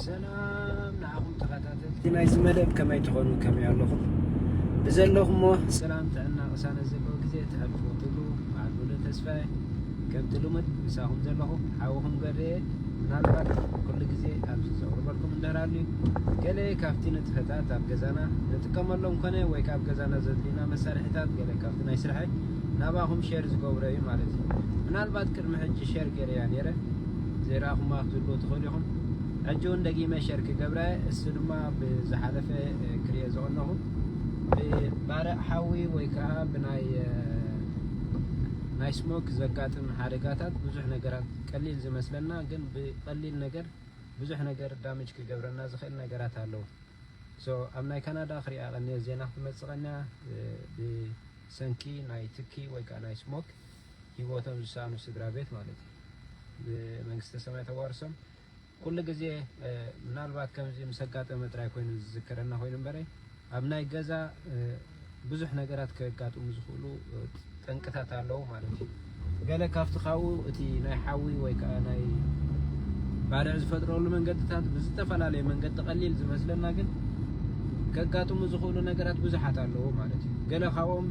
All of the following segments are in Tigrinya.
ሰላም ንዓኹም ተኸታተልቲ ናይዚ መደብ ከመይ ትኾኑ ከመይ ኣለኹም ብዘለኹሞ ሰላም ጥዕና ቅሳነ ዘለዎ ግዜ ተሕልፉ ትብሉ በዓል ሙሉ ተስፋየ ከምቲ ልሙድ ምሳኹም ዘለኹ ሓውኹም ገርየ ምናልባት ኩሉ ግዜ ኣብዚ ዘቕርበልኩም እንደራሉ ገለ ካብቲ ንጥፈታት ኣብ ገዛና ንጥቀመሎም ኮነ ወይ ካብ ገዛና ዘድልዩና መሳርሒታት ገለ ካብቲ ናይ ስርሐይ ናባኹም ሼር ዝገብሮ እዩ ማለት እዩ ምናልባት ቅድሚ ሕጂ ሼር ጌረያ ኔረ ዘይረኣኹማ ክትህልዉ ትኽእሉ ኢኹም ሕጂ ውን ደጊመ ሼር ክገብራ እየ እሱ ድማ ብዝሓለፈ ክሪኦ ዝቐነኹ ብባርዕ ሓዊ ወይ ከዓ ብናይ ናይ ስሞክ ዘጋጥም ሓደጋታት ብዙሕ ነገራት ቀሊል ዝመስለና ግን ብቀሊል ነገር ብዙሕ ነገር ዳሜጅ ክገብረና ዝኽእል ነገራት ኣለዉ ሶ ኣብ ናይ ካናዳ ክሪኣ ቀንየ ዜና ክትመጽእ ቀንያ ሰንኪ ናይ ትኪ ወይ ከኣ ናይ ስሞክ ሂወቶም ዝሳኣኑ ስድራ ቤት ማለት እዩ ብመንግስተ ሰማይ ተዋርሶም ኩሉ ግዜ ምናልባት ከምዚ ምስ ኣጋጠመ ጥራይ ኮይኑ ዝዝከረና ኮይኑ እምበረ ኣብ ናይ ገዛ ብዙሕ ነገራት ከጋጥሙ ዝኽእሉ ጠንቅታት ኣለዉ ማለት እዩ። ገለ ካብቲ ካብኡ እቲ ናይ ሓዊ ወይ ከኣ ናይ ባርዕ ዝፈጥረሉ መንገድታት ብዝተፈላለየ መንገዲ ቀሊል ዝመስለና ግን ከጋጥሙ ዝኽእሉ ነገራት ብዙሓት ኣለዉ ማለት እዩ። ገለ ካብኦም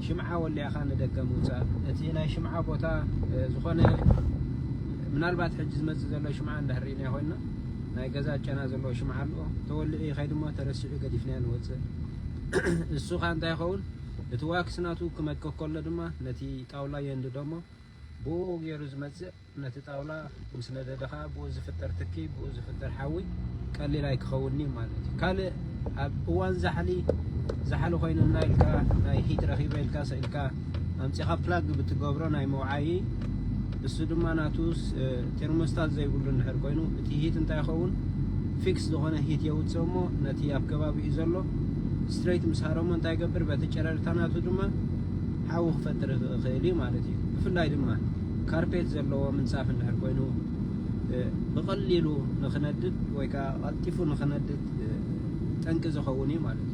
ሽምዓ ወሊዕኻ ንደገ ምውጻእ፣ እቲ ናይ ሽምዓ ቦታ ዝኾነ ምናልባት ሕጂ ዝመጽእ ዘሎ ሽምዓ እንዳህሪእናዮ ኮይንና ናይ ገዛ ጨና ዘለዎ ሽምዓ ኣሎ ተወሊዑ ይኸይድ እሞ ተረሲዑ ገዲፍናዮ ንወጽእ እሱኻ እንታይ ይኸውን እቲ ዋክስ ናቱ ክመቅእ ከሎ ድማ ነቲ ጣውላ የንድዶ እሞ ብኡ ገይሩ ዝመጽእ ነቲ ጣውላ ምስ ነደደ ከኣ ብኡ ዝፍጠር ትኪ ብኡ ዝፍጠር ሓዊ ቀሊል ኣይክኸውንን'ዩ ማለት እዩ። ካልእ ኣብ እዋን ዛሕሊ ዛሕሊ ኮይኑና ኢልካ ናይ ሂት ረኺበ ኢልካ ሰኢልካ ኣምጺኻ ፕላግ ብትገብሮ ናይ መውዓዪ እሱ ድማ ናቱ ቴርሞስታት ዘይብሉ እንድሕር ኮይኑ እቲ ሂት እንታይ ይኸውን ፊክስ ዝኾነ ሂት የውፅእ እሞ ነቲ ኣብ ከባቢኡ ዘሎ ስትሬት ምስ ሃረሞ እንታይ ይገብር በቲ ጨረርታ ናቱ ድማ ሓዊ ክፈጥር ይኽእል እዩ ማለት እዩ ብፍላይ ድማ ካርፔት ዘለዎ ምንፃፍ እንድሕር ኮይኑ ብቐሊሉ ንክነድድ ወይ ከዓ ቀልጢፉ ንክነድድ ጠንቂ ዝኸውን እዩ ማለት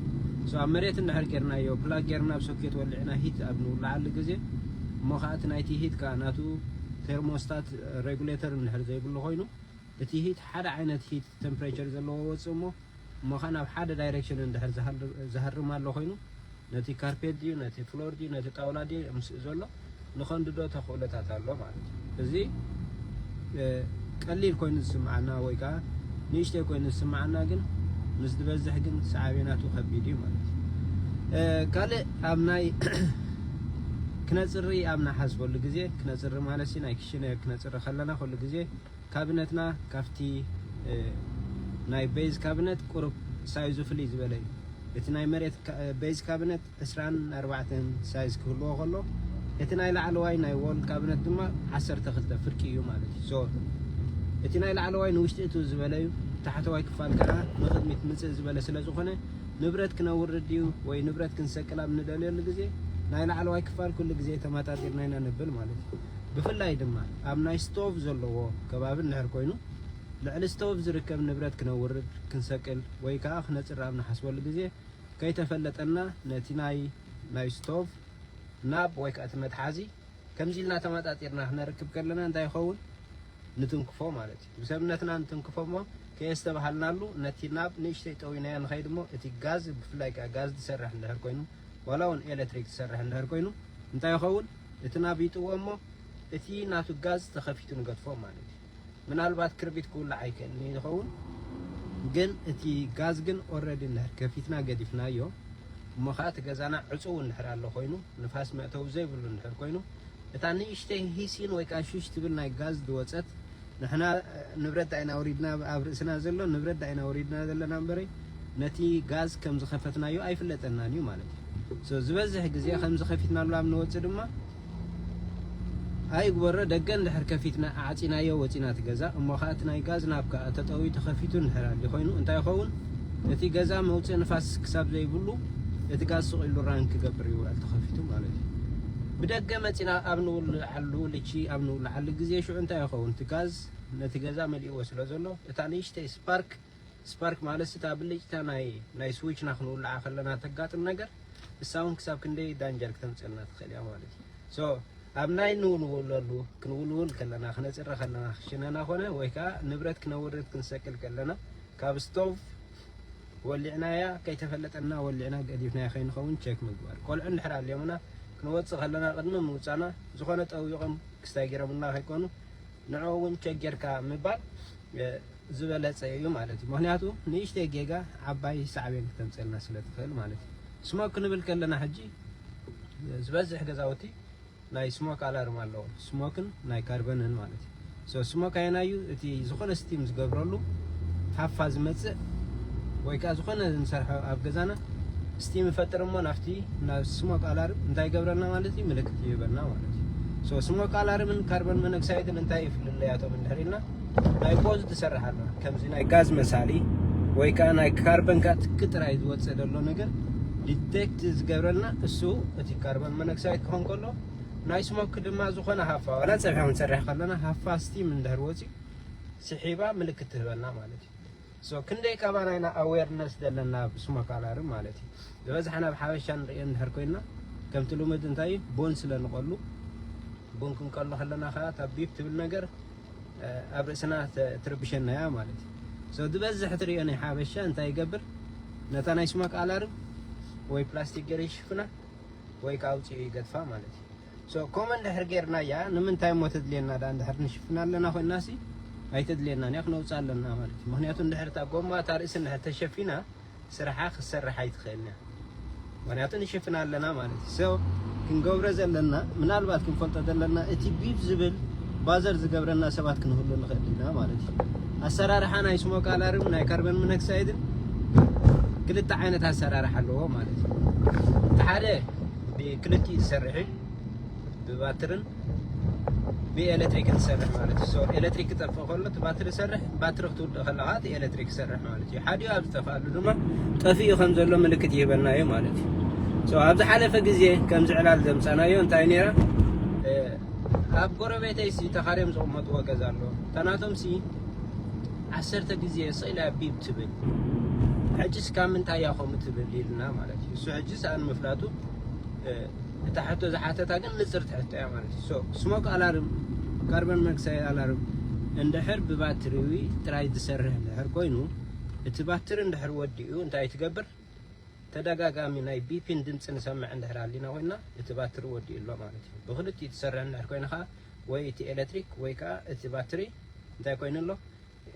እዩ ኣብ መሬት እንድሕር ጌርናዮ ፕላግ ጌርና ኣብ ሶኬት ወሊዕና ሂት ኣብ ንውልዓሉ ግዜ እሞ ከኣ እቲ ናይቲ ሂት ከኣ ናቱ ቴርሞስታት ሬጉሌተር እንድሕር ዘይብሉ ኮይኑ እቲ ሂት ሓደ ዓይነት ሂት ተምፕሬቸር ዘለዎ ይወጽእ እሞ እሞ ከኣ ናብ ሓደ ዳይሬክሽን እንድሕር ዝሃርም ኣሎ ኮይኑ ነቲ ካርፔት ድዩ ነቲ ፍሎር ድዩ ነቲ ጣውላ ድዩ ምስ ዘሎ ንኸንድዶ ተኽእሎታት ኣሎ ማለት እዩ እዚ ቀሊል ኮይኑ ዝስምዓና ወይ ከዓ ንእሽተይ ኮይኑ ዝስምዓና ግን ምስ ዝበዝሕ ግን ሰዓቤናቱ ከቢድ እዩ ማለት እዩ ካልእ ኣብ ናይ ክነፅሪ ኣብ ንሓስበሉ ግዜ ክነፅሪ ማለት ናይ ክሽነ ክነፅሪ ከለና ኩሉ ግዜ ካብነትና ካብቲ ናይ ቤዝ ካብነት ቁሩብ ሳይዙ ፍልይ ዝበለ እዩ እቲ ናይ መሬት ቤዝ ካብነት ዕስራን ኣርባዕተን ሳይዝ ክህልዎ ከሎ እቲ ናይ ላዕለዋይ ናይ ዎል ካብነት ድማ ዓሰርተ ክልተ ፍርቂ እዩ ማለት እዩ። ሶ እቲ ናይ ላዕለዋይ ንውሽጢ እትው ዝበለ እዩ፣ ታሕተዋይ ክፋል ከኣ ንቕድሚት ምጽእ ዝበለ ስለ ዝኾነ ንብረት ክነውርድ ድዩ ወይ ንብረት ክንሰቅል ኣብ ንደልየሉ ግዜ ናይ ላዕለዋይ ክፋል ኩሉ ግዜ ተማጣጢርና ኢና ነብል ማለት እዩ። ብፍላይ ድማ ኣብ ናይ ስቶቭ ዘለዎ ከባቢ እንድሕር ኮይኑ ልዕሊ ስቶቭ ዝርከብ ንብረት ክነውርድ፣ ክንሰቅል ወይ ከኣ ክነጽሪ ኣብ ንሓስበሉ ግዜ፣ ከይተፈለጠና ነቲ ናይ ናይ ስቶቭ ናብ ወይ ከኣ እቲ መትሓዚ ከምዚ ኢልና ተማጣጢርና ክነርክብ ከለና እንታይ ይኸውን ንትንክፎ ማለት እዩ ብሰብነትና ንትንክፎ እሞ ከየስተባሃልናሉ ነቲ ናብ ንእሽተይ ጠዊናዮ ንኸይድ እሞ እቲ ጋዝ ብፍላይ ከኣ ጋዝ ዝሰርሕ እንድሕር ኮይኑ ዋላ እውን ኤሌክትሪክ ዝሰርሕ እንድሕር ኮይኑ እንታይ ይኸውን እቲ ናብ ይጥዎ እሞ እቲ ናቱ ጋዝ ተኸፊቱ ንገድፎ ማለት እዩ ምናልባት ክርቢት ክውላዕ ይክእል እዩ ዝኸውን ግን እቲ ጋዝ ግን ኦረዲ እንድሕር ከፊትና ገዲፍናዮ እሞ ኸኣ እቲ ገዛና ዕጹው እንድሕር ኣሎ ኮይኑ ንፋስ መእተዊ ዘይብሉ እንድሕር ኮይኑ እታ ንእሽተይ ሂሲን ወይ ከኣ ሹሽ ትብል ናይ ጋዝ ዝወጸት ንሕና ንብረት ዳኢና ኣውሪድና ኣብ ርእስና ዘሎ ንብረት ዳኢና ኣውሪድና ዘለና እምበረይ ነቲ ጋዝ ከም ዝኸፈትናዮ ኣይፍለጠናን እዩ ማለት እዩ። so ዝበዝሕ ግዜ ከምዚ ከፊትናሉ ኣብ ንወጽእ ድማ ኣይግበሮ ደገ እንድሕር ከፊትና ኣዕጺናዮ ወጺና እቲ ገዛ እሞ ከኣ እቲ ናይ ጋዝ ናብ ከኣ ተጠውዩ ተኸፊቱ እንድሕር ኣልዩ ኮይኑ እንታይ ይኸውን እቲ ገዛ መውጽኢ ንፋስ ክሳብ ዘይብሉ እቲ ጋዝ ስቂሉ ራን ክገብር ይውዕል ተኸፊቱ ማለት እዩ ብደገ መጺና ኣብ ንውልዓሉ ልቺ ኣብ ንውልዓሉ ግዜ ሽዑ እንታይ ይኸውን እቲ ጋዝ ነቲ ገዛ መሊእዎ ስለ ዘሎ እታ ንእሽተይ ስፓርክ ስፓርክ ማለትስ እታ ብልጭታ ናይ ናይ ስዊችና ክንውልዓ ከለና ተጋጥም ነገር ንሳ ውን ክሳብ ክንደይ ዳንጀር ክተምጽኣልና ትኽእል እያ ማለት እዩ ሶ ኣብ ናይ ንውልውለሉ ክንውልውል ከለና ክነጽሪ ከለና ክሽነና ኮነ ወይ ከኣ ንብረት ክነውርድ ክንሰቅል ከለና ካብ ስቶቭ ወሊዕናያ ከይተፈለጠና ወሊዕና ገዲፍናያ ከይንኸውን ቸክ ምግባር ቆልዑ እንድሕር ኣልዮምና ክንወጽእ ከለና ቅድሚ ምውጻና ዝኾነ ጠዊቖም ክስታይ ገይሮምልና ከይኮኑ ንዕኡ ውን ቸክ ጌርካ ምባል ዝበለጸ እዩ ማለት እዩ ምክንያቱ ንእሽተይ ጌጋ ዓባይ ሳዕቤን ክተምጽልና ስለ ትክእል ማለት እዩ ስሞክ ክንብል ከለና ሕጂ ዝበዝሕ ገዛውቲ ናይ ስሞክ ኣላርም ኣለዎ ስሞክን ናይ ካርበንን ማለት እዩ ሶ ስሞክ ኣየናይ እዩ እቲ ዝኾነ ስቲም ዝገብረሉ ሃፋ ዝመጽእ ወይ ከዓ ዝኾነ ንሰርሖ ኣብ ገዛና ስቲም ይፈጥር እሞ ናብቲ ናብ ስሞክ ኣላርም እንታይ ይገብረልና ማለት እዩ ምልክት ይህበና ማለት እዩ ሶ ስሞክ ኣላርምን ካርቦን ሞኖክሳይድን እንታይ ይፍልለያቶም እንድሕር ኢልና ናይ ፖዝ ትሰርሕ ኣሎ ከምዚ ናይ ጋዝ መሳሊ ወይ ከዓ ናይ ካርበን ካትክ ጥራይ ዝወፅእ ዘሎ ነገር ዲቴክት ዝገብረልና እሱ እቲ ካርበን መነክሳይድ ክኾን ከሎ ናይ ስሞክ ድማ ዝኾነ ሃፋ ዋላ ፀብሒ ክንሰርሕ ከለና ሃፋ ስቲም እንድሕር ወፂኡ ስሒባ ምልክት ትህበና ማለት እዩ So ክንደይ ካባና ኢና ኣዌርነስ ዘለና ብስሞ ካላሪ ማለት እዩ ዝበዝሓና ኣብ ሓበሻ ንርእዮ እንድሕር ኮይና ከምቲ ልሙድ እንታይ እዩ ቡን ስለ ንቐሉ ቡን ክንቀሉ ከለና ከዓ እታ ቢፕ ትብል ነገር ኣብ ርእስና ትርብሸና እያ ማለት እዩ so ዝበዝሕ ትርእዮ ናይ ሓበሻ እንታይ ይገብር ነታ ናይ ስሞክ ኣላርም ወይ ፕላስቲክ ገይሩ ይሽፍና ወይ ከዓ ኣውፂኡ ይገድፋ ማለት እዩ So ከምኡ እንድሕር ጌርናያ ንምንታይ እሞ ተድልየና ድኣ እንድሕር ንሽፍና ኣለና ኮይናሲ ኣይተድልየናን እያ ክነውጽኣ ኣለና ማለት እዩ ምክንያቱ እንድሕር እታ ጎማ እታ ርእሲ እንድሕር ተሸፊና ስርሓ ክትሰርሕ ኣይትኽእልን እያ ምክንያቱ ንሽፍና ኣለና ማለት እዩ ሰው ክንገብሮ ዘለና ምናልባት ክንፈልጦ ዘለና እቲ ቢፕ ዝብል ባዘር ዝገብረና ሰባት ክንህሉ ንኽእል ኢና ማለት እዩ ኣሰራርሓ ናይ ስሞክ ኣላርም ናይ ካርበን ሞኖክሳይድን ክልተ ዓይነት ኣሰራርሓ ኣለዎ ማለት እዩ እቲ ሓደ ብክልቲኡ ዝሰርሕ እዩ ብባትርን ብኤሌክትሪክን ዝሰርሕ ማለት እዩ ሶ ኤሌክትሪክ ክጠፍእ ከሎ እቲ ባትሪ ይሰርሕ ባትሪ ክትውድእ ከላ ከዓ እቲ ኤሌክትሪክ ይሰርሕ ማለት እዩ ሓዲኡ ኣብ ዝጠፍኣሉ ድማ ጠፊኡ ከም ዘሎ ምልክት ይህበና እዩ ማለት እዩ ሶ ኣብ ዝሓለፈ ግዜ ከምዚ ዕላል ዘምፀናዮ እንታይ ነይራ ኣብ ጎረቤተይ ሲ ተኻርዮም ዝቕመጥዎ ገዛ ኣሎ እታ ናቶም ሲ ዓሰርተ ግዜ ስኢላ ቢብ ትብል ሕጂስ ካብ ምንታይ እያ ከምኡ ትብል ኢልና ማለት እዩ እሱ ሕጂ ይስኣን ምፍላጡ እታ ሕቶ ዝሓተታ ግን ንጽርቲ ሕቶ እያ ማለት እዩ ሶ ስሞክ ኣላርም ካርበን መክሳይድ ኣላርም እንድሕር ብባትሪ ጥራይ ዝሰርሕ እንድሕር ኮይኑ እቲ ባትሪ እንድሕር ወዲኡ እንታይ ትገብር ተደጋጋሚ ናይ ቢፒን ድምፂ ንሰምዕ እንድሕር ኣሊና ኮይና እቲ ባትሪ ወዲኡ ኣሎ ማለት እዩ ብክልቲኡ ትሰርሕ እንድሕር ኮይንካ ወይ እቲ ኤሌክትሪክ ወይ ከዓ እቲ ባትሪ እንታይ ኮይኑ ኣሎ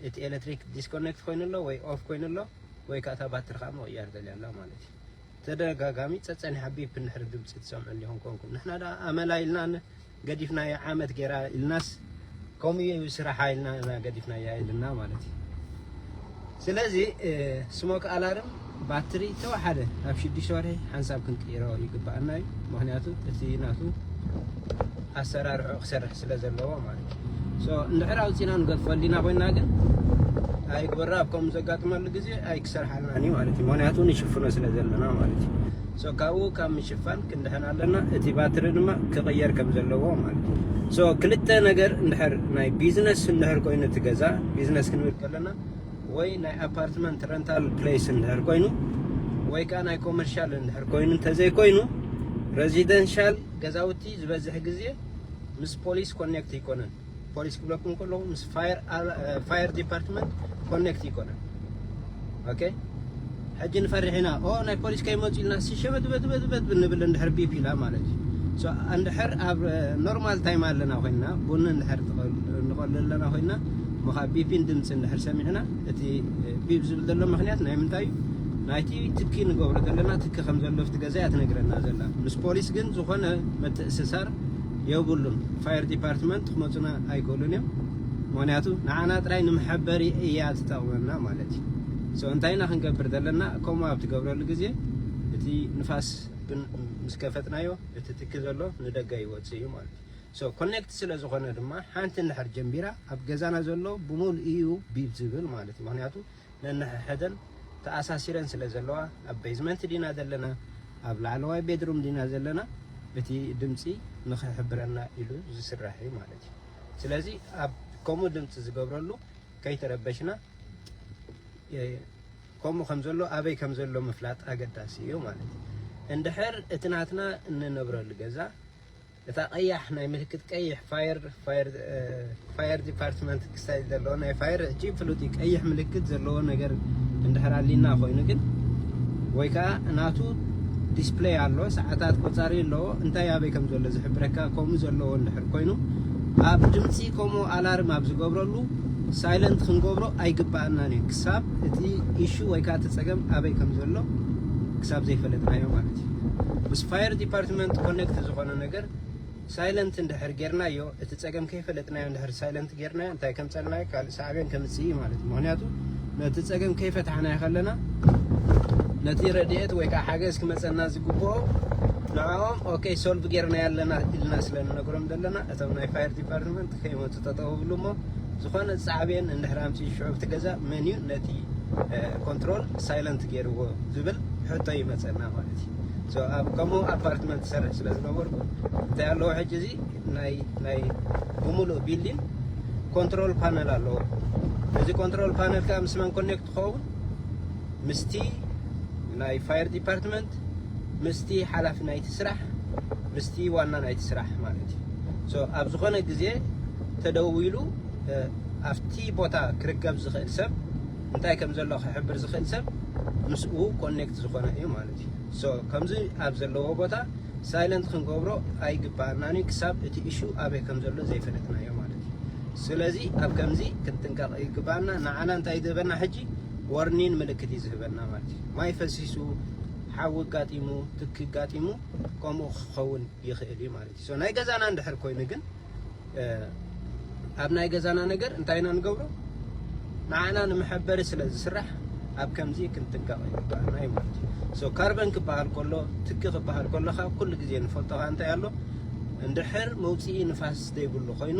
እቲ ኤለትሪክ ዲስኮነክት ኮይኑ ኣሎ ወይ ኦፍ ኮይኑ ኣሎ ወይ ከዓ እታ ባትሪ ከዓ ምቕያር ደልያ ኣላ ማለት እዩ ተደጋጋሚ ፀፀኒሓ ቢፕ እንድሕር ድምፂ ትሰምዑ እንዲኹም ኮንኩም ንሕና ደኣ ኣመላ ኢልና ገዲፍናዮ ዓመት ገይራ ኢልናስ ከምኡ እዩ ስራሓ ኢልና ገዲፍናያ ኢልና ማለት እዩ ስለዚ ስሞክ ኣላርም ባትሪ ተወሓደ ኣብ ሽዱሽተ ወርሒ ሓንሳብ ክንቅይሮ ይግበኣና እዩ ምክንያቱ እቲ ናቱ ኣሰራርዑ ክሰርሕ ስለ ዘለዎ ማለት እዩ እንድሕር ኣውፂና ንገድፎ ሊና ኮይና ግን ኣይግበራ ኣብ ከምኡ ዘጋጥመሉ ግዜ ኣይክሰርሓልናን እዩ ማለት እዩ ምክንያቱ ንሽፍኖ ስለ ዘለና ማለት እዩ ካብኡ ካብ ምሽፋን ክንድሕን ኣለና እቲ ባትሪ ድማ ክቕየር ከም ዘለዎ ማለት እዩ ክልተ ነገር እንድሕር ናይ ቢዝነስ እንድሕር ኮይኑ እቲ ገዛ ቢዝነስ ክንብል ከለና ወይ ናይ ኣፓርትመንት ረንታል ፕለይስ እንድሕር ኮይኑ ወይ ከዓ ናይ ኮመርሻል እንድሕር ኮይኑ እንተዘይኮይኑ ረዚደንሻል ገዛውቲ ዝበዝሕ ግዜ ምስ ፖሊስ ኮኔክት ይኮነን ፖሊስ ክብለኩም ከለኹ ምስ ፋየር ዲፓርትመንት ኮኔክት ይኮነን ኦኬ ሕጂ ንፈርሕ ኢና ኦ ናይ ፖሊስ ከይመጹ ኢልና ሸበትበትበትበት ንብል እንድሕር ቢፕ ኢላ ማለት እዩ እንድሕር ኣብ ኖርማል ታይም ኣለና ኮይንና ቡን እንድሕር ንቐሉ ኣለና ኮይንና እሞ ካብ ቢፒን ድምፂ እንድሕር ሰሚዕና እቲ ቢብ ዝብል ዘሎ ምክንያት ናይ ምንታይ እዩ ናይቲ ትኪ ንገብሮ ዘለና ትኪ ከም ዘሎ ኣብቲ ገዛ እያ ትነግረና ዘላ ምስ ፖሊስ ግን ዝኾነ ምትእስሳር የብሉን ፋየር ዲፓርትመንት ክመፁና ኣይክእሉን እዮም ምክንያቱ ንዓና ጥራይ ንመሐበሪ እያ ትጠቕመና ማለት እዩ so እንታይ ኢና ክንገብር ዘለና ከምኡ ኣብ ትገብረሉ ግዜ እቲ ንፋስ ግን ምስ ከፈትናዮ እቲ ትኪ ዘሎ ንደገ ይወጽእ እዩ ማለት እዩ so connect ስለ ዝኾነ ድማ ሓንቲ እንድሕር ጀምቢራ ኣብ ገዛና ዘሎ ብምሉኡ እዩ ቢብ ዝብል ማለት እዩ ምክንያቱ ነንሕሕደን ተኣሳሲረን ስለ ዘለዋ ኣብ ቤዝመንት ዲና ዘለና ኣብ ላዕለዋይ ቤድሩም ዲና ዘለና እቲ ድምጺ ንኽሕብረና ኢሉ ዝስራሕ እዩ ማለት እዩ ስለዚ ኣብ ከምኡ ድምጺ ዝገብረሉ ከይተረበሽና ከምኡ ከም ዘሎ ኣበይ ከም ዘሎ ምፍላጥ ኣገዳሲ እዩ ማለት እዩ። እንድሕር እቲ ናትና እንነብረሉ ገዛ እታ ቀያሕ ናይ ምልክት ቀይሕ ፋየር ፋየር ፋየር ዲፓርትመንት ክሳይ ዘለዎ ናይ ፋየር እቲ ፍሉጥ ቀይሕ ምልክት ዘለዎ ነገር እንድሕር ኣሊና ኮይኑ ግን ወይ ከዓ ናቱ ዲስፕሌይ ኣሎ ሰዓታት ቆፃሪ ኣለዎ እንታይ ኣበይ ከም ዘሎ ዝሕብረካ ከምኡ ዘለዎ እንድሕር ኮይኑ ኣብ ድምፂ ኮሞ ኣላርም ኣብ ዝገብረሉ ሳይለንት ክንገብሮ ኣይግበኣናን እዩ ክሳብ እቲ ኢሹ ወይ ከኣ እቲ ጸገም ኣበይ ከም ዘሎ ክሳብ ዘይፈለጥናዮ ማለት እዩ። ምስ ፋየር ዲፓርትመንት ኮነክት ዝኾነ ነገር ሳይለንት እንድሕር ጌርናዮ እቲ ጸገም ከይፈለጥናዮ እንድሕር ሳይለንት ጌርናዮ እንታይ ከምጸልናዮ ካልእ ሳዕቤን ከምጽእ እዩ ማለት እዩ። ምክንያቱ ነቲ ጸገም ከይፈታሕናዮ ከለና ነቲ ረድኤት ወይ ከኣ ሓገዝ ክመጸና ዝግብኦ ንዕኦም ኦኬ ሶልቭ ጌርናዮ ኣለና ኢልና ስለ ንነግሮም ዘለና እቶም ናይ ፋየር ዲፓርትመንት ከይመፁ ጠጠው ይብሉ እሞ ዝኾነ ሳዕቤን እንድሕር ኣምፂኡ ሽዑ እቲ ገዛ መን እዩ ነቲ ኮንትሮል ሳይለንት ገይርዎ ዝብል ሕቶ ይመፀና ማለት እዩ ኣብ ከምኡ ኣፓርትመንት ዝሰርሕ ስለ ዝነበርኩ እንታይ ኣለዎ ሕጂ እዚ ናይ ናይ ብምሉእ ቢልዲን ኮንትሮል ፓነል ኣለዎ እዚ ኮንትሮል ፓነል ከዓ ምስ መን ኮኔክት ትኸውን ምስቲ ናይ ፋየር ዲፓርትመንት ምስቲ ሓላፊ ናይቲ ስራሕ ምስቲ ዋና ናይቲ ስራሕ ማለት እዩ ሶ ኣብ ዝኾነ ግዜ ተደዊሉ ኣብቲ ቦታ ክርከብ ዝኽእል ሰብ እንታይ ከም ዘሎ ክሕብር ዝኽእል ሰብ ምስኡ ኮኔክት ዝኾነ እዩ ማለት እዩ ሶ ከምዚ ኣብ ዘለዎ ቦታ ሳይለንት ክንገብሮ ኣይግባኣናን እዩ ክሳብ እቲ እሹ ኣበይ ከም ዘሎ ዘይፈለጥናዮ ማለት እዩ ስለዚ ኣብ ከምዚ ክንጥንቀቕ ይግባኣና ንዓና እንታይ ዝህበና ሕጂ ወርኒን ምልክት እዩ ዝህበና ማለት እዩ ማይ ፈሲሱ ሓዊ ኣጋጢሙ ትኪ ኣጋጢሙ ከምኡ ክኸውን ይኽእል እዩ ማለት እዩ። ናይ ገዛና እንድሕር ኮይኑ ግን ኣብ ናይ ገዛና ነገር እንታይ ኢና ንገብሮ ንዓና ንመሐበሪ ስለ ዝስራሕ ኣብ ከምዚ ክንጥንቀቕ ይግባኣና እዩ ማለት እዩ ሶ ካርበን ክበሃል ከሎ ትኪ ክበሃል ከሎ ካብ ኩሉ ግዜ ንፈልጦ ኸ እንታይ ኣሎ እንድሕር መውፅኢ ንፋስ ዘይብሉ ኮይኑ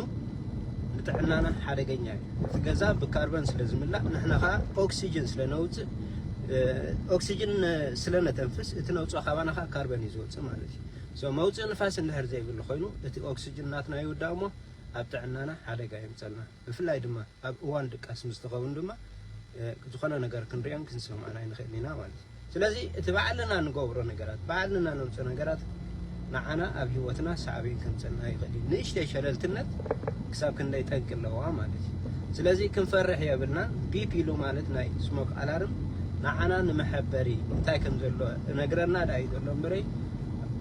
ንጥዕናና ሓደገኛ እዩ እቲ ገዛ ብካርበን ስለ ዝምላእ ንሕና ከዓ ኦክሲጅን ስለ ነውፅእ ኦክሲጅን ስለ ነተንፍስ እቲ ነውፅኦ ካባና ከዓ ካርበን እዩ ዝወፅእ ማለት እዩ ሶ መውፅእ ንፋስ እንድሕር ዘይብሉ ኮይኑ እቲ ኦክሲጅን ናትና ይውዳእ እሞ ኣብ ጥዕናና ሓደጋ የምፀልና ብፍላይ ድማ ኣብ እዋን ድቃስ ምስ ትኸውን ድማ ዝኾነ ነገር ክንሪኦን ክንሰምዖን ኣይንኽእል ኢና ማለት እዩ ስለዚ እቲ ባዕልና ንገብሮ ነገራት ባዕልና ነውፅኦ ነገራት ንዓና ኣብ ሂወትና ሳዕቤን ከምጸልና ይኽእል እዩ ንእሽተይ ሸለልትነት ክሳብ ክንደይ ጠንቂ ኣለዋ ማለት እዩ ስለዚ ክንፈርሕ የብልናን ቢፕ ኢሉ ማለት ናይ ስሞክ ኣላርም ንዓና ንመሐበሪ እንታይ ከም ዘሎ እነግረና ዳዩ ዘሎ እምበረይ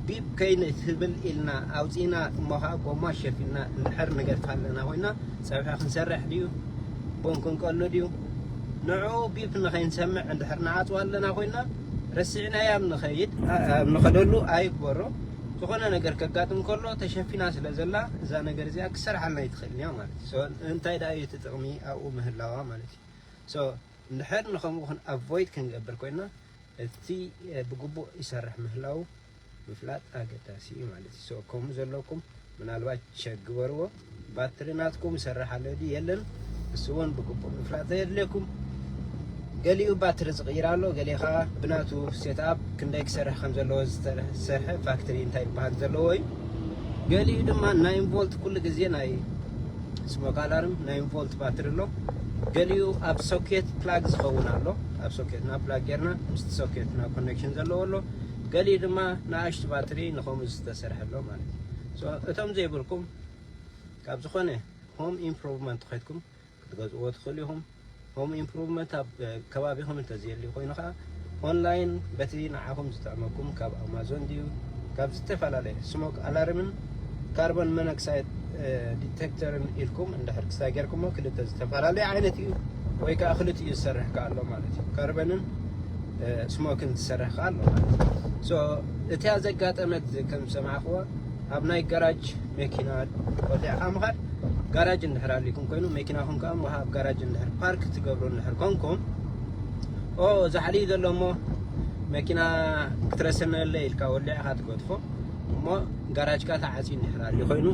ቢብ ከይንትብል ኢልና ኣውፂና እሞ ከዓ ጎማ ሸፊልና እንድሕር ንገድፍ ኣለና ኮይና ፀብሒ ክንሰርሕ ድዩ ቡን ክንቀሉ ድዩ ንዑ ቢብ ንኸይንሰምዕ እንድሕር ንዓፅዋ ኣለና ኮይና ረሲዕናያም ንኸይድ ኣብ ንኸደሉ ኣይግበሮ ዝኾነ ነገር ከጋጥም ከሎ ተሸፊና ስለ ዘላ እዛ ነገር እዚኣ ክሰርሓልና ኣይትኽእልን እያ ማለት እዩ። ሶ እንታይ ደኣ እዩ እቲ ጥቕሚ ኣብኡ ምህላዋ ማለት እዩ። ሶ እንድሕር ንኸምኡ ክን ኣቮይድ ክንገብር ኮይና እቲ ብግቡእ ይሰርሕ ምህላዉ ምፍላጥ ኣገዳሲ እዩ ማለት እዩ so ከምኡ ዘለኩም ምናልባች ቸክ ግበርዎ ባትሪ ናትኩም ይሰርሕ ኣሎ ድዩ የለን እሱ እውን ብግቡእ ምፍላጥ ዘየድልየኩም ገሊኡ ባትሪ ዝቕይር ኣሎ ገሊኡ ከዓ ብናቱ ሴትኣፕ ክንደይ ክሰርሕ ከም ዘለዎ ዝተሰርሐ ፋክትሪ እንታይ ይበሃል ዘለዎ እዩ ገሊኡ ድማ ናይ ኢንቮልት ኩሉ ግዜ ናይ ስሞክ ኣላርም ናይ ኢንቮልት ባትሪ ኣሎ ገሊኡ ኣብ ሶኬት ፕላግ ዝኸውን ኣሎ ኣብ ሶኬትና ፕላግ ጌርና ምስቲ ሶኬትና ኮኔክሽን ዘለዎ ኣሎ ገሊኡ ድማ ንኣሽቱ ባትሪ ንኸምኡ ዝተሰርሐሎ ማለት እዩ። ሶ እቶም ዘይብልኩም ካብ ዝኾነ ሆም ኢምፕሮቭመንት ኼድኩም ክትገዝእዎ ትኽእሉ ኢኹም። ሆም ኢምፕሮቭመንት ኣብ ከባቢኹም እንተዘየልዩ ኮይኑ ኸኣ ኦንላይን በቲ ንዓኹም ዝጥዕመኩም ካብ ኣማዞን ድዩ ካብ ዝተፈላለየ ስሞክ ኣላርምን ካርቦን መኖክሳይድ ዲቴክተርን ኢልኩም እንድሕር ክስታይ ጌርኩሞ ክልተ ዝተፈላለዩ ዓይነት እዩ ወይ ከዓ ክልቲኡ ዝሰርሕ ከዓ ኣሎ ማለት እዩ ካርበንን ስሞክን ዝሰርሕ ከዓ ኣሎ ማለት እዩ ሶ እቲያ ዘጋጠመት ከም ዝሰማዕክዎ ኣብ ናይ ጋራጅ መኪና ወዲዕካ ምኻድ ጋራጅ እንድሕር ኣሊኩም ኮይኑ መኪናኹም ከዓ ውሃ ኣብ ጋራጅ እንድሕር ፓርክ ትገብሩ እንድሕር ኮንኩም ኦ ዛዕሊ ዘሎ እሞ መኪና ክትረሰነለ ኢልካ ወሊዕካ ትገድፎ እሞ ጋራጅካ ተዓጽዩ እንድሕር ኣልዩ ኮይኑ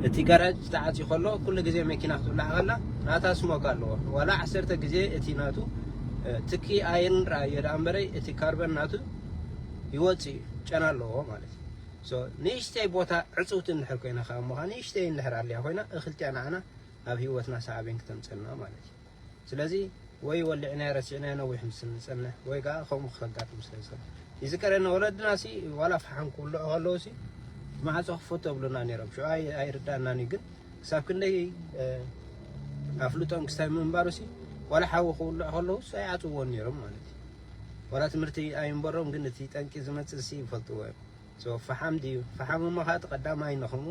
እቲ ጋራጅ ተዓጽዩ ከሎ ኩሉ ግዜ መኪና ክትብላዕ ከላ ናታ ስሞክ ኣለዎ ዋላ ዓሰርተ ግዜ እቲ ናቱ ትኪ ኣይንርኣዮ ደኣ እምበረይ እቲ ካርበን ናቱ ይወጽእ እዩ ጨና ኣለዎ ማለት እዩ ሶ ንእሽተይ ቦታ ዕጽውቲ እንድሕር ኮይና ከኣ እሞ ንእሽተይ እንድሕር ኣልያ ኮይና እኽልቲኣ ንዓና ኣብ ህይወትና ሳዕቤን ክተምጸልና ማለት እዩ ስለዚ ወይ ወሊዕናዮ ረሲዕናዮ ነዊሕ ምስ እንጸንሕ ወይ ከኣ ከምኡ ከጋጥም ስለ ዝኽእል ይዝከረኒ ወለድናሲ ዋላ ፈሓም ክውልዑ ከለውሲ ማዕጾ ክፈቱ የብሉና ነይሮም ሽዑ ኣይርዳእናን እዩ ግን ክሳብ ክንደይ ኣፍልጦም ክሳብ ምንባሩሲ ዋላ ሓዊ ክውልዑ ከለውስ ኣይዓጽዎን ነይሮም ማለት እዩ ዋላ ትምህርቲ ኣይንበሮም ግን እቲ ጠንቂ ዝመጽእሲ ይፈልጥዎ እዮም So ፈሓም ድዩ ፈሓም እሞ ከኣ እቲ ቀዳማይ ንክሙ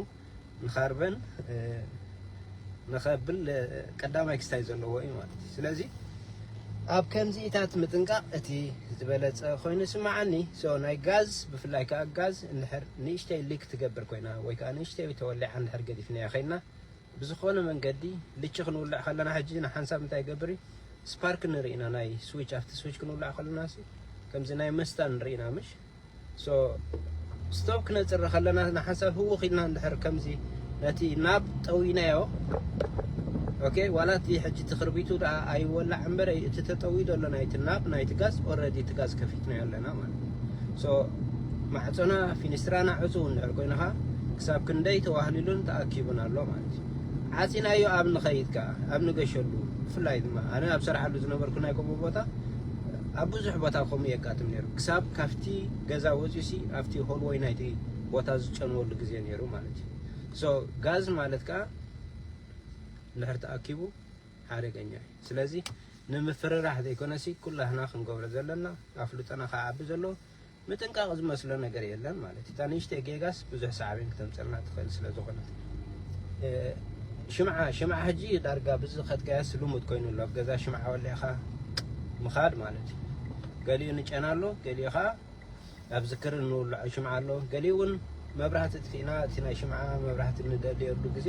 ንካርበን ንከብል ቀዳማይ ክስታይ ዘለዎ እዩ ማለት እዩ ስለዚ ኣብ ከምዚኢታት ምጥንቃቕ እቲ ዝበለጸ ኮይኑ ይስምዓኒ so ናይ ጋዝ ብፍላይ ከኣ ጋዝ እንድሕር ንእሽተይ ሊክ ትገብር ኮይና ወይ ከኣ ንእሽተይ ተወሊዓ እንድሕር ገዲፍናያ ከይድና ብዝኾነ መንገዲ ልቺ ክንውልዕ ከለና ሕጂ ንሓንሳብ እንታይ ይገብር እዩ ስፓርክ ንርኢ ኢና ናይ ስዊች ኣብቲ ስዊች ክንውልዕ ከለና ከምዚ ናይ መስታን ንርኢ ኢና ምሽ So stop ክነጽሪ ከለና ንሓንሳብ ህውኽ ኢልና እንድሕር ከምዚ ነቲ ናብ ጠዊናዮ ኦኬ ዋላ እቲ ሕጂ እቲ ክርቢቱ ደኣ ኣይወላዕ እምበር እቲ ተጠውዩ ዘሎ ናይቲ ናብ ናይቲ ጋዝ ኦልረዲ እቲ ጋዝ ከፊትናዮ ኣለና ማለት እዩ ሶ ማዕጾና ፊኒስትራና ዕጹው እንድሕር ኮይንኻ ክሳብ ክንደይ ተዋህሊሉን ተኣኪቡን ኣሎ ማለት እዩ ዓጺናዮ ኣብ ንኸይድ ከኣ ኣብ ንገሸሉ ብፍላይ ድማ ኣነ ኣብ ሰርዓሉ ዝነበርኩ ናይ ቆቦ ቦታ ኣብ ብዙሕ ቦታ ከምኡ የጋጥም ነይሩ ክሳብ ካብቲ ገዛ ወፂኡሲ ኣብቲ ሆልወይ ናይቲ ቦታ ዝጨንወሉ ግዜ ነይሩ ማለት እዩ ሶ ጋዝ ማለት ከዓ እንድሕር ተኣኪቡ ሓደገኛ እዩ ስለዚ ንምፍርራሕ ዘይኮነሲ ኩላህና ክንገብሮ ዘለና ኣፍልጦና ክዓቢ ዘለዎ ምጥንቃቕ ዝመስሎ ነገር የለን ማለት እዩ። እታ ንእሽተይ ጌጋስ ብዙሕ ሳዕቤን ክተምጽኣልና ትኽእል ስለ ዝኾነት። ሽምዓ ሽምዓ ሕጂ ዳርጋ ብዚ ከትጋየስ ልሙድ ኮይኑ ኣሎ። ኣብ ገዛ ሽምዓ ወሊዕኻ ምኻድ ማለት እዩ። ገሊኡ ንጨና ኣሎ፣ ገሊኡ ከኣ ኣብ ዝክሪ እንውልዖ ሽምዓ ኣሎ፣ ገሊኡ እውን መብራህቲ ኣጥፊእና እቲ ናይ ሽምዓ መብራህቲ ንደልየሉ ግዜ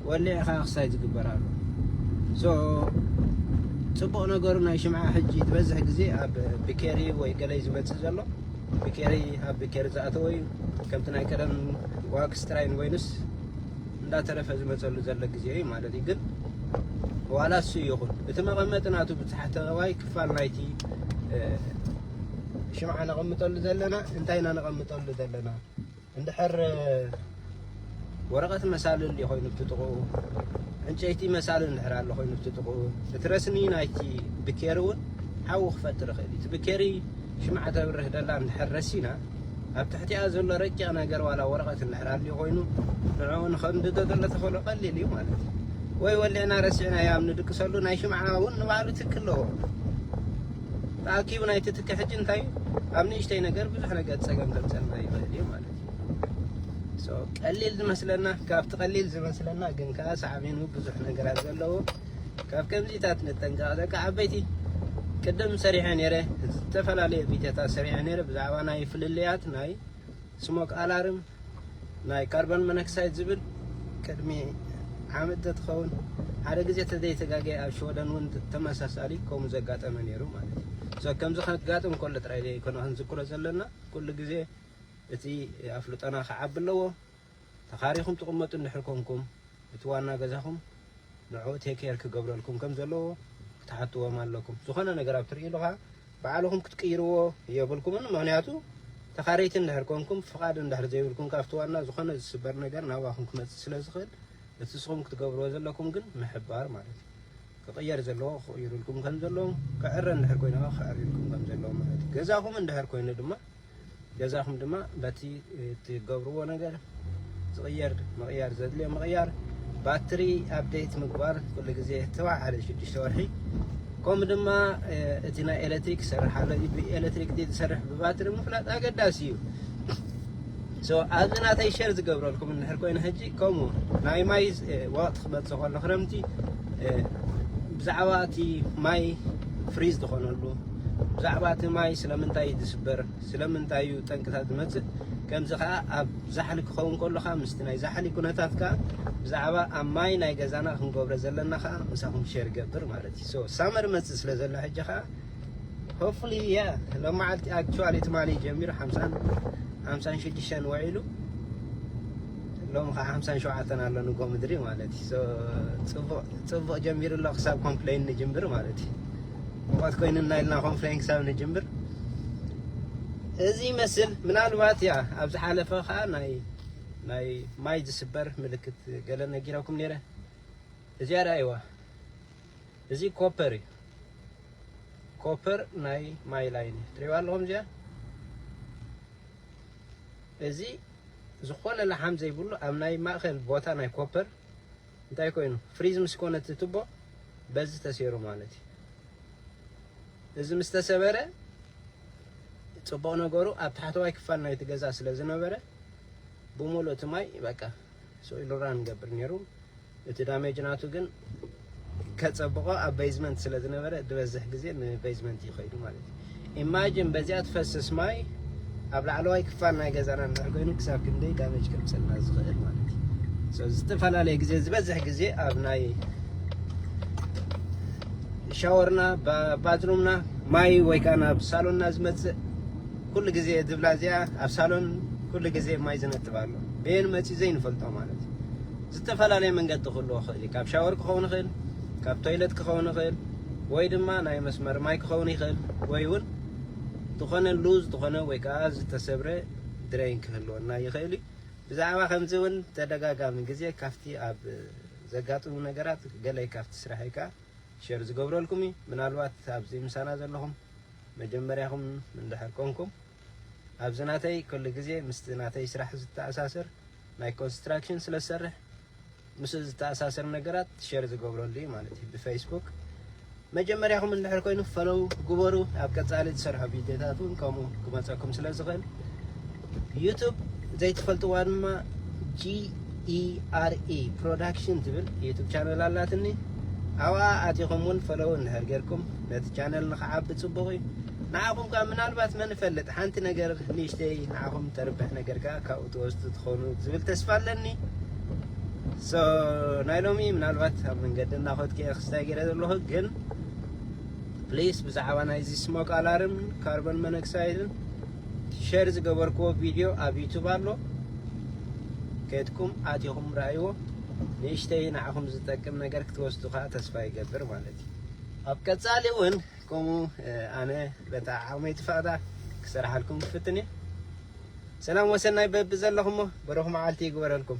ወሊዕኻ ክሳይ ዝግበር ኣሎ ሶ ፅቡቕ ነገሩ ናይ ሽምዓ ሕጂ ዝበዝሕ ግዜ ኣብ ብኬሪ ወይ ገለይ ዝመፅእ ዘሎ ብኬሪ ኣብ ብኬሪ ዝኣተወ እዩ ከምቲ ናይ ቀደም ዋክስ ጥራይ ንበይኑስ እንዳተረፈ ዝመፀሉ ዘሎ ግዜ እዩ ማለት እዩ ግን ዋላ እሱ ይኹን እቲ መቐመጢ ናቱ ብታሕተዋይ ክፋል ናይቲ ሽምዓ ነቐምጠሉ ዘለና እንታይ ኢና ነቐምጠሉ ዘለና እንድሕር ወረቐት መሳሊ እንድዩ ኮይኑ ኣብቲ ጥቕኡ ዕንጨይቲ መሳሊ እንድሕር ኣሎ ኮይኑ ኣብቲ ጥቕኡ እቲ ረስኒ ናይቲ ብኬሪ እውን ሓዊ ክፈጥር ይኽእል እዩ እቲ ብኬሪ ሽምዓ ተብርህ ደላ እንድሕር ረሲና ኣብ ትሕቲኣ ዘሎ ረቂቕ ነገር ዋላ ወረቐት እንድሕር ኣልዩ ኮይኑ ንዕኡ ንኸንድዶ ዘሎ ተኽእሎ ቀሊል እዩ ማለት እዩ ወይ ወሊዕና ረሲዕናዮ ኣብ ንድቅሰሉ ናይ ሽምዓ እውን ንባዕሉ ትክ ኣለዎ ተኣኪቡ ናይቲ ትኪ ሕጂ እንታይ እዩ ኣብ ንእሽተይ ነገር ብዙሕ ነገር ፀገም ከምፀና ይኽእል እዩ ማለት እዩ ቀሊል ዝመስለና ካብቲ ቀሊል ዝመስለና ግን ከዓ ሳዕቤኑ ብዙሕ ነገራት ዘለዎ ካብ ከምዚታት ንጠንቀቕ ደቂ ዓበይቲ ቅድም ሰሪሐ ነይረ ዝተፈላለየ ቪድዮታት ሰሪሐ ነይረ ብዛዕባ ናይ ፍልልያት ናይ ስሞክ ኣላርም ናይ ካርቦን መነክሳይድ ዝብል ቅድሚ ዓመት ተትኸውን ሓደ ግዜ ተዘይተጋገየ ኣብ ሽወደን እውን ተመሳሳሊ ከምኡ ዘጋጠመ ነይሩ ማለት እዩ ሶ ከምዚ ከጋጥም ከሎ ጥራይ ዘይኮነ ክንዝክሮ ዘለና ኩሉ ግዜ እቲ ኣፍልጦና ክዓቢ ኣለዎ ተኻሪኹም ትቕመጡ እንድሕር ኮንኩም እቲ ዋና ገዛኹም ንዕኡ ቴክ ኬር ክገብረልኩም ከም ዘለዎ ክትሓትዎም ኣለኩም። ዝኾነ ነገር ኣብ ትርእይሉ ከኣ ባዕልኹም ክትቅይርዎ የብልኩምን። ምኽንያቱ ተኻረይቲ እንድሕር ኮንኩም ፍቓድ እንድሕር ዘይብልኩም ካብቲ ዋና ዝኾነ ዝስበር ነገር ናባኹም ክመጽእ ስለ ዝኽእል እቲ ንስኹም ክትገብርዎ ዘለኩም ግን ምሕባር ማለት እዩ። ክቕየር ዘለዎ ክቕይርልኩም ከም ዘለዎም ክዕረ እንድሕር ኮይኑ ከኣ ክዕርዩልኩም ከም ዘለዎም ማለት እዩ። ገዛኹም እንድሕር ኮይኑ ድማ ገዛኹም ድማ በቲ እትገብርዎ ነገር ዝቕየር ምቕያር ዘድልዮ ምቕያር ባትሪ ኣብዴት ምግባር ኩሉ ግዜ ተባዕሓደ ሽዱሽተ ወርሒ ከምኡ ድማ እቲ ናይ ኤሌክትሪክ ሰርሕ ኣሎ ብኤሌክትሪክ ዝሰርሕ ብባትሪ ምፍላጥ ኣገዳሲ እዩ ኣብዚ ናተይ ሸር ዝገብረልኩም እንድሕር ኮይኑ ሕጂ ከምኡ ናይ ማይ ወቕቲ ክመፅእ ከሎ ክረምቲ ብዛዕባ እቲ ማይ ፍሪዝ ዝኾነሉ ብዛዕባ እቲ ማይ ስለምንታይ እዩ ዝስበር፣ ስለምንታይ እዩ ጠንቅታት ዝመጽእ፣ ከምዚ ከኣ ኣብ ዛሕሊ ክኸውን ከሎ ከኣ ምስቲ ናይ ዛሕሊ ኩነታት ከኣ ብዛዕባ ኣብ ማይ ናይ ገዛና ክንገብሮ ዘለና ከኣ ምሳኹም ሼር ይገብር ማለት እዩ። ሶ ሳመር ይመጽእ ስለ ዘሎ ሕጂ ከኣ ሆፕፉሊ ያ ሎማዓልቲ ኣክቹዋሊ ትማሊ ጀሚሩ ሓምሳን ሓምሳን ሽዱሽተን ውዒሉ ሎም ከዓ ሓምሳን ሸውዓተን ኣሎ ንጎ ምድሪ ማለት እዩ ጽቡቅ ጀሚሩ ኣሎ ክሳብ ኮምፕሌን ንጅምር ማለት እዩ ሙቐት ኮይኑና ኢልና ኮንፍሌን ክሳብ ንጅምር እዚ ይመስል ምናልባት ያ ኣብ ዝሓለፈ ከዓ ናይ ናይ ማይ ዝስበር ምልክት ገለ ነጊረኩም ነይረ እዚኣ ዳይዋ እዚ ኮፐር እዩ ኮፐር ናይ ማይ ላይን እዩ ትሪእዋ ኣለኹም እዚኣ እዚ ዝኾነ ላሓም ዘይብሉ ኣብ ናይ ማእኸል ቦታ ናይ ኮፐር እንታይ ኮይኑ ፍሪዝ ምስ ኮነ እቲ ቱቦ በዚ ተሴሩ ማለት እዩ እዚ ምስ ተሰበረ ጽቡቕ ነገሩ ኣብ ታሕተዋይ ክፋል ናይቲ ገዛ ስለ ዝነበረ ብምሉእ እቲ ማይ በቃ ሶይል ራን ገብር ነይሩ እቲ ዳሜጅ ናቱ ግን ከጸብቆ ኣብ ቤዝመንት ስለ ዝነበረ ዝበዝሕ ግዜ ንቤዝመንት ይኸይዱ ማለት ኢማጅን በዚኣ ትፈስስ ማይ ኣብ ላዕለዋይ ክፋል ናይ ገዛና እንድሕር ኮይኑ ክሳብ ክንደይ ዳሜጅ ከምፅልና ዝኽእል ማለት እዩ ዝተፈላለየ ግዜ ዝበዝሕ ግዜ ኣብ ናይ ሻወርና ባትሩምና ማይ ወይ ከዓ ናብ ሳሎንና ዝመፅእ ኩሉ ግዜ ዝብላ እዚኣ ኣብ ሳሎን ኩሉ ግዜ ማይ ዝነጥብ ኣሎ በየን መፅኡ ዘይንፈልጦ ማለት እዩ ዝተፈላለየ መንገዲ ክህልዎ ይኽእል እዩ ካብ ሻወር ክኸውን ይኽእል ካብ ቶይለት ክኸውን ይኽእል ወይ ድማ ናይ መስመር ማይ ክኸውን ይኽእል ወይ ውን ዝኾነ ሉዝ ዝኾነ ወይ ከኣ ዝተሰብረ ድረይን ክህልወና ይኽእል እዩ። ብዛዕባ ከምዚ ውን ተደጋጋሚ ግዜ ካብቲ ኣብ ዘጋጥሙ ነገራት ገለ ካብቲ ስራሐይ ከኣ ሸር ዝገብረልኩም እዩ። ምናልባት ኣብዚ ምሳና ዘለኹም መጀመርያኹም እንድሕር ኮንኩም። ኣብዚ ናተይ ከሉ ግዜ ምስቲ ናተይ ስራሕ ዝተኣሳሰር ናይ ኮንስትራክሽን ስለ ዝሰርሕ ምስኡ ዝተኣሳሰር ነገራት ሸር ዝገብረሉ እዩ ማለት እዩ ብፈይስቡክ መጀመርያኹም እንድሕር ኮይኑ ፈለው ግበሩ ኣብ ቀጻሊ ዝሰርሖ ቪድዮታት እውን ከምኡ ክመፀኩም ስለ ዝኽእል ዩቱብ ዘይትፈልጥዋ ድማ ጂኢአርኢ ፕሮዳክሽን ትብል ዩቱብ ቻነል ኣላትኒ ኣብኣ ኣቲኹም እውን ፈለው እንድሕር ጌርኩም ነቲ ቻነል ንክዓቢ ጽቡቕ እዩ ንዓኹም ከኣ ምናልባት መን ይፈልጥ ሓንቲ ነገር ንእሽተይ ንዓኹም ተርብሕ ነገር ከኣ ካብኡ ትወስዱ ትኾኑ ዝብል ተስፋ ኣለኒ ሶ ናይ ሎሚ ምናልባት ኣብ መንገዲ እናኸድኩ እየ ክስታይ ገይረ ዘለኹ ግን ፕሊስ ብዛዕባ ናይዚ ስሞክ ኣላርም ካርቦን ሞኖክሳይድን ሸር ዝገበርክዎ ቪድዮ ኣብ ዩቱብ ኣሎ ከድኩም ኣቲኹም ረኣይዎ ንእሽተይ ንዓኹም ዝጠቅም ነገር ክትወስዱ ከዓ ተስፋ ይገብር ማለት እዩ ኣብ ቀጻሊ ውን ከምኡ ኣነ በታ ዓቅመይ ትፈቅዳ ክሰርሓልኩም ክፍትን እየ ሰላም ወሰናይ በብዘለኹሞ ብሩኽ መዓልቲ ይግበረልኩም።